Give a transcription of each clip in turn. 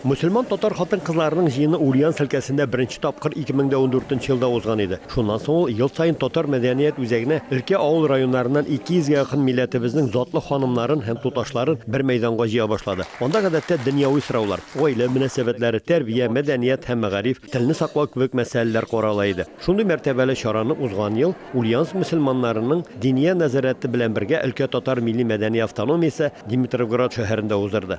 Мөселман татар хатын-кызларының җыены Ульяновск өлкәсендә беренче тапкыр 2014 елда узган иде. Шуннан соң ул ел саен татар мәдәният үзәгенә өлкә авыл районнарыннан 200 гә якын милләтебезнең затлы ханымнарын һәм туташларын бер мәйданга җыя башлады. Анда гадәттә дөньяви сораулар, гаилә мөнәсәбәтләре, тәрбия, мәдәният һәм мәгариф, телне саклау кебек мәсьәләләр карала иде. Шундый мәртәбәле чараны узган ел Ульяновск мөселманнарының Диния нәзарәте белән бергә өлкә татар милли-мәдәни автономиясе Димитровград шәһәрендә уздырды.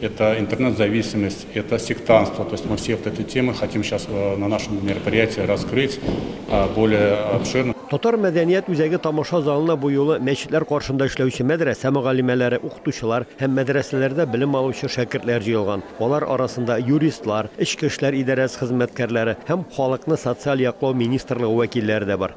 Это интернет-зависимость, это сектантство. То есть мы все вот эти темы хотим сейчас э, на нашем мероприятии раскрыть более обширно. Татар мәдәният үзәге тамаша залына бу юлы мәчетләр каршында эшләүче мәдрәсә мөгаллимәләре, укытучылар һәм мәдрәсәләрдә белем алучы шәкертләр җыелган. Алар арасында юристлар, эчке эшләр идарәсе хезмәткәрләре һәм халыкны социаль яклау министрлыгы вәкилләре дә бар.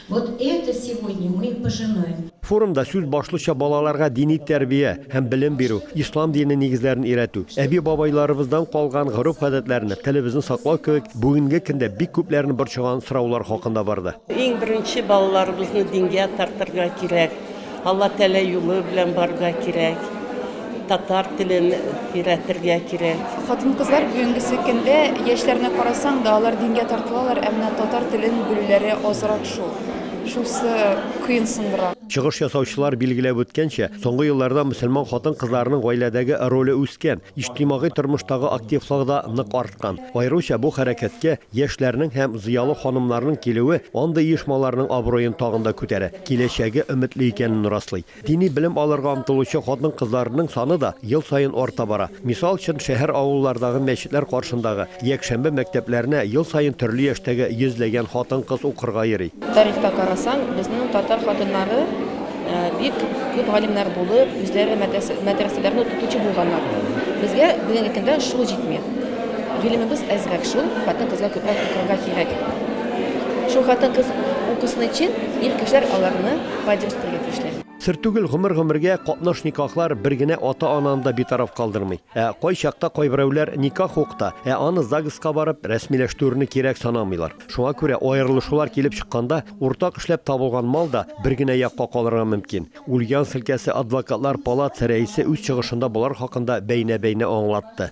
Вот это сегодня мы пожинаем. Форумда сүз башлыча балаларга дини тәрбия һәм белем бирү, ислам дине нигезләрен өйрәтү, әби-бабайларыбыздан калган гореф-гадәтләрне, телебезне саклау кебек бүгенге көндә бик күпләрне борчыган сораулар хакында барды. Иң беренче балаларыбызны дингә тартырга кирәк. Алла теләй юлы белән барга кирәк татар телен өйрәтергә кирәк. Хатын-кызлар бүгенгесе көндә яшьләрне карасаң да, алар дингә тартылалар, ә менә татар телен белүләре азрак шул. Шусы кыенсындыра. Чыгыш ясаучылар билгеләп үткәнчә, соңгы елларда мөселман хатын-кызларының гаиләдәге роле үскән, иҗтимагый тормыштагы активлыгы да нык арткан. Аеруча бу хәрәкәткә яшьләрнең һәм зыялы ханымнарның килүе андый оешмаларның абруен тагын да күтәрә. киләчәге өметле икәнен раслый. Дини белем алырга омтылучы хатын-кызларның саны да ел саен арта бара. Мисал өчен, шәһәр-авыллардагы мәчетләр каршындагы якшәмбе мәктәпләренә ел саен төрле яшьтәге йөзләгән хатын-кыз укырга йөри. Тарихка карасаң, безнең татар хатыннары бик күп галимнәр булып, үзләре мәдрәсәләрне укытучы булганнар. Безгә бүгенге көндә шул җитми. Гыйлемебез әзрәк шул, хатын-кызга күбрәк укырга кирәк. Шул хатын-кыз укусын өчен ир кешеләр аларны поддержкаларга тиешләр. Сер түгел, гомер-гомергә катнаш никахлар бер генә ата-ананы да битараф калдырмый. Ә кайчакта кайберәүләр никах ук та, ә аны ЗАГСка барып рәсмиләштерүне кирәк санамыйлар. Шуңа күрә аерылышулар килеп чыкканда, уртак эшләп табылган мал да бер генә якка калырга мөмкин. Ульяновск өлкәсе адвокатлар палатасы рәисе үз чыгышында болар хакында бәйнә-бәйнә аңлатты.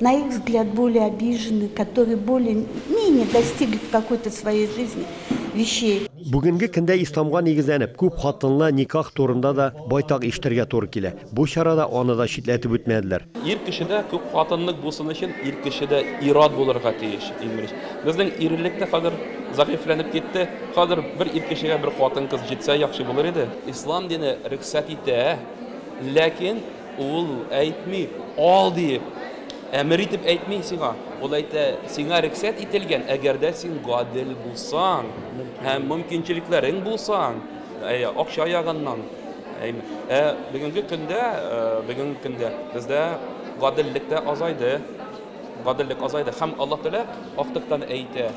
На их взгляд, более обиженных, которые более менее достигли в какой-то своей жизни вещей. Бүгенге көндә исламга нигезләнеп, күп хатынлы никах турында да байтак ишетергә туры килә. Бу чарада аны да читләтеп үтмәделәр. Ир кеше дә күп хатынлык булсын өчен, ир кеше дә ир-ат булырга тиеш, иң беренче. Безнең ирлек тә хәзер зәгыйфьләнеп китте. Хәзер бер ир кешегә бер хатын-кыз җитсә яхшы булыр иде. Ислам дине рөхсәт итә, ләкин Ул әйтми, ал диеп, әмер итеп әйтми сиңа. Ул әйтә, сиңа рексәт ителгән, әгәр дә син гадел булсаң, һәм мөмкинчелекләрең булсаң, акча ягыннан. Ә бүгенге көндә, бүгенге көндә бездә гаделлек тә азайды. Гаделлек азайды һәм Аллаһ Тәгалә актыктан әйтә,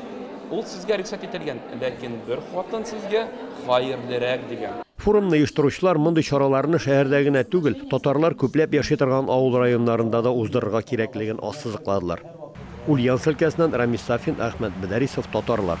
ул сезгә рөхсәт ителгән, ләкин бер хатын сезгә хәерлерәк, дигән. Форумны оештыручылар мондый чараларны шәһәрдә генә түгел, татарлар күпләп яши торган авыл районнарында да уздырырга кирәклеген ассызыкладылар. Ульяновск өлкәсеннән Рамис Сафин, Әхмәт Бәдәрисов, Татарлар.